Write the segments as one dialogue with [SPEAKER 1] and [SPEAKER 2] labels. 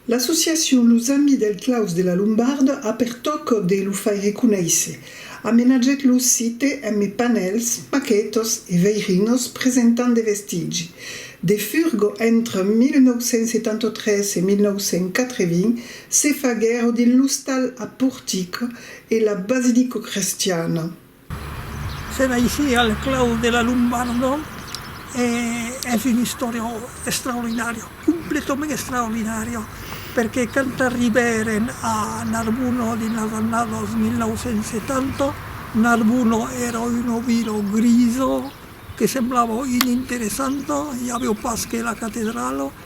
[SPEAKER 1] L'associacion Los Amis del Claus de la Lombarda a per tòc de lo faire conéisser, amenatgèt lo site emme panèls, maquetas e veirinos presentant de vestigi de furgo entre 1973 e 1980 se faguèro dins l'ostal a portica e la basilicocrestiana.
[SPEAKER 2] Se naishie al clau de la Lombardo e es un istoriau extraordinari, completament extraordinari, perque quand arribèren a Narbona dins las annadas 1970, Narbona èra una vila grisa que semblava ininteressanta, i aviá pas que la catedrala,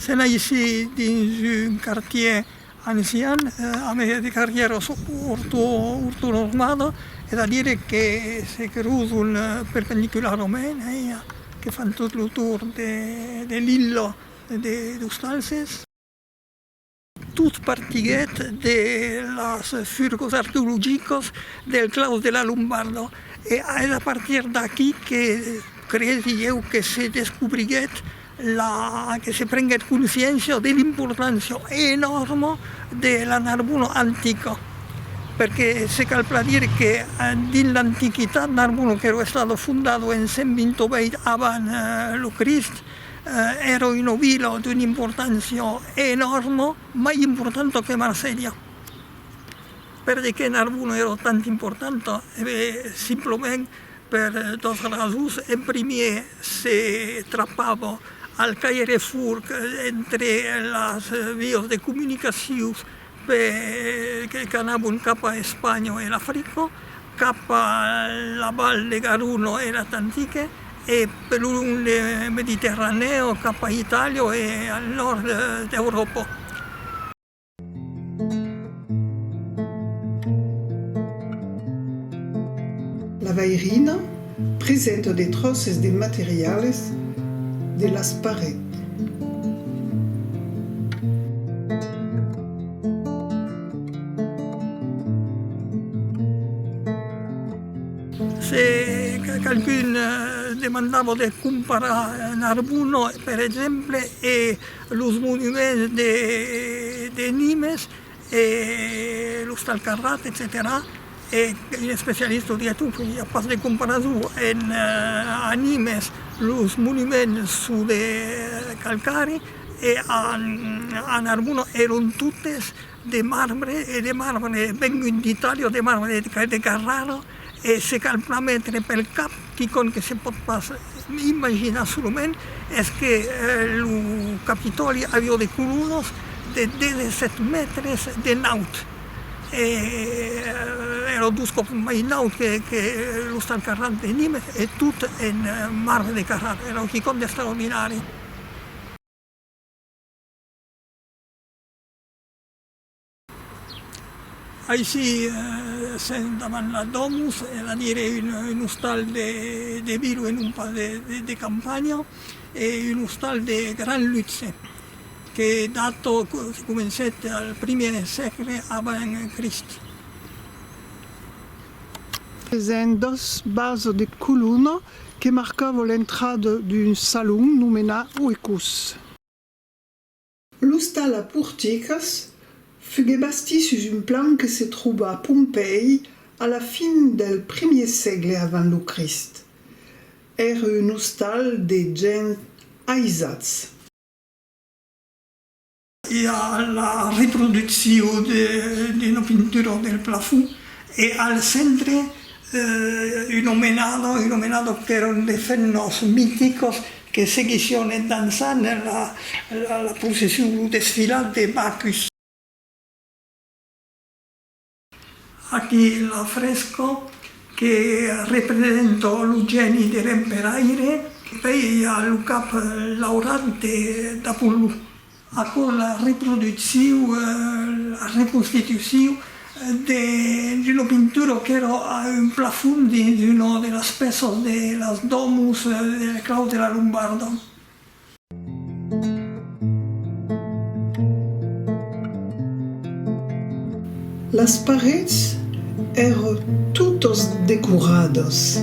[SPEAKER 2] Se naissi dins un quartier ancian, a mèger de carrièras ortonormadas, es a dire que se creuzon perpendicularament, que fan tot lo torn de l'illa de Los Talses. Tot partiguèt de las furgos arqueologicas del claus de la Lombarda e es a partir d'aquí que cresi ieu que se descobriguèt la, que se prenguèt consciéncia de l'importància enòrma de la Narbona antica. Perque se cal plan dire que dins l'antiquitat Narbona, qu'èra estada fondada en 128 avant lo Crist, Èra una vila d'una importància enòrma, mai importanta que Marselha, perque Narbona èra tant importanta simplement per dos rasons, en primièr se trapava al caire furg entre las vias de comunicacion Pe que qu'anavon cap a Espanha o era Frico, cap a la val de Garuno e er Atantique, e per lo long de Mediterranèo cap a Itàlia o al nòrd d'Euròpa.
[SPEAKER 1] La vairina, Presenta de tròces de materiales de las parets.
[SPEAKER 2] Se qualqu'un demandava de comparar Narbonne, per exemple, e los monuments de Nimes, e l'ostal Carrat, etcetèra e un especialista o die tot, i a pas de comparason, en a Nimes los monuments son de calcari e a Narbona èron totes de marbre e de marbre vengut d'Itàlia o de marbre de Carrara, E se cal pas metre pel cap quicòm que se pòt pas imaginar solament es que lo Capitòli avió de colonos de 17 mètres de naut e èra dos còps mai naut que l'Ostal Carrab de Nimes e tot en marbre de Carrab, èra quicòm d'estraordinari. Aicí sèm davant la domus, e la dire un ostal de vila e non pas de campanha, e un ostal de gran luxe, que dato comencèt al primièr sègle avant Crist.
[SPEAKER 1] Present dos bases de colona que marcava l'entrada d'un salon nomenat oecus. L'ostal a porticas fugué bastit sus un plan que se troba a Pompèi a la fin del primier sègle avant lo Crist. Ère un ostal de gents aisats.
[SPEAKER 2] I a la reproduccion d'una pintura del plafond e al centre un omenado, un omenado per un de ses nòus miticos, Que seguission en dançant la procession, lo desfilat de Bacchus. Aquí l'afresco que representa lo gèni de l'emperaire, que vei lo cap laurat d'Apollo. Aquò la reproducciu, la reconstituciu d'una pintura qu'èra a un plafond dins una de las pèças de las domus de la clau de la Lombarda.
[SPEAKER 1] Las parets èra totas decoradas.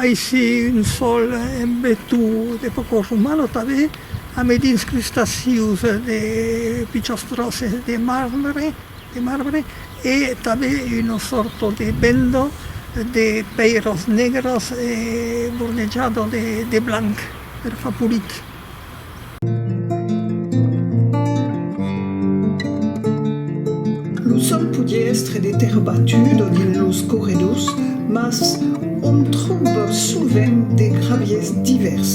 [SPEAKER 2] Aicí un sòl embetu de pòcos umano tanben, a medins crustacius de pichons tròces de marbre de marbre e tanben una sòrta de bendo de pèiros negros e bornejado de blanc per far polit.
[SPEAKER 1] Lo sòl podie èstre de tèrra batuda dins los corredors mas òm tròba sovent de gravièrs divèrs.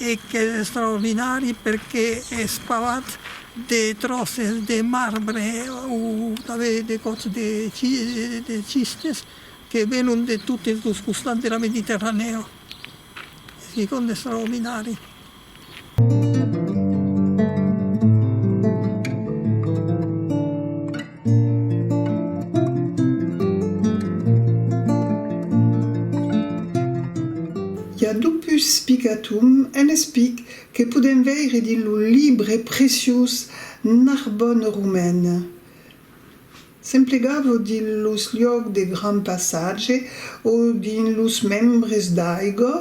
[SPEAKER 2] E qu'es extraordinari perque es pavat de tròces de marbre o tanben de còps de schistes que venon de totes los costats de la Mediterranèa. Es quicòm d'extraordinari.
[SPEAKER 1] I a dupus spigatum en espic que podèm veire dins lo libre preciós Narbonne romaine. S'emplegava dins los liòcs de grand passatge o dins los membres d'aiga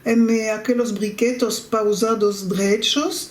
[SPEAKER 1] eme aquelos briquetos pausados drechos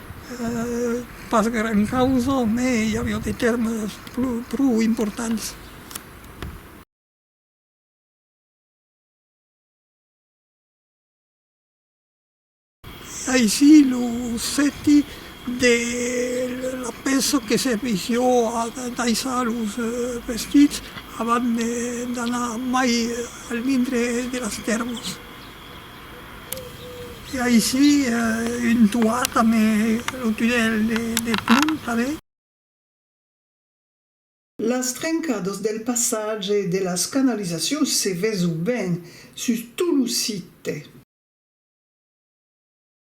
[SPEAKER 2] Pas gran causa, mai i aviá de tèrmes pro importants. Aicí lo sèti de la pèça que servissió a daissar los vestits abans d'anar mai al dintre de las tèrmas. E aicí un toit amb lo tunèl de plomb tanben.
[SPEAKER 1] Las trencadas del passatge de las canalizacions se veson ben sus tot lo site.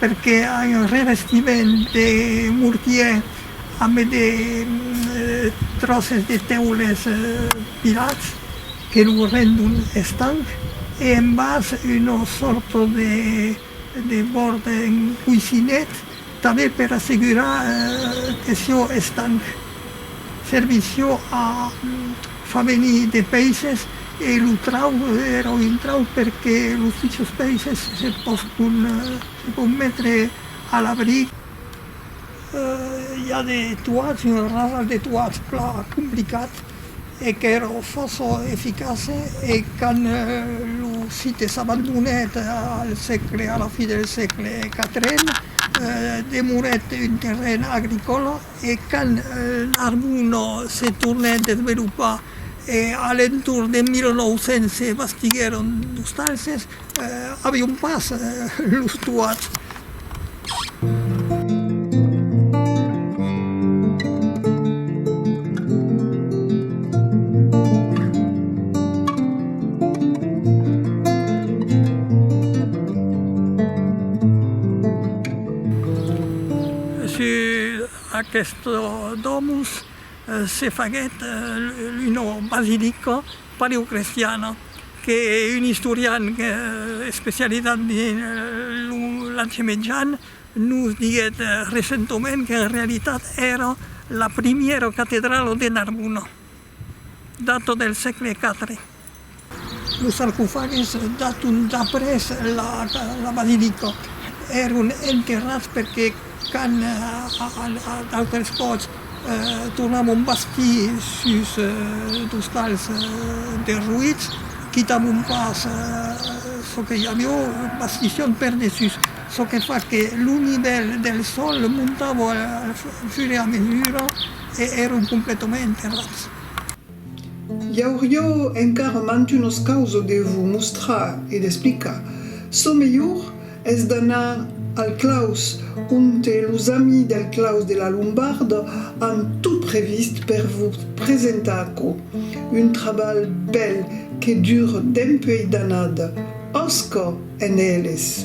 [SPEAKER 2] perque ai un revestiment de mortier ambe de tròces de tèules pilats que lo rendon estanc e en bas una sòrta de bòrd en coissinet tanben per assegurar que sió estanc. Servís sió a fa venir de peisses E lo trau èra un intrau perque los pichons peisses se pòscon metre a l'abric. I a de tuats, un rasal de tuats plan complicat e qu'èra fòrça eficace e quand lo site s'abandonèt al sègle, a la fin del sègle quatrien, demorèt un terren agricòla. E quand Narbonne se tornèt desvelopar e a l'entorn de 1900 se bastiguèron d'ostalses, avion pas los toats. Sus aquestos domus se faguèt una basilica paleocrestiana que un istorian especializat dins l'Anci Mejan nos diguèt recentament qu'en realitat èra la primièra catedrala de Narbona, data del sègle iv. Los sarcofagis daton d'après la basilica. Èron enterrats perque quand d'autres còps tornamon bastir sus d'ostals derruits, quitamon pas çò que i avió, bastission per dessús, çò que fa que lo nivèl del sòl montava au fur e à mesura e èron completament enterrats.
[SPEAKER 1] Iaurio encara mantunos causo de vos mostrar e d'explicar. Çò melhor es d'anar al claus onte los amis del claus de la Lombarda an tot previst per vos presentar aquò. Un trabalh bèl que dure dempuèi d'annada. Òsca en eles!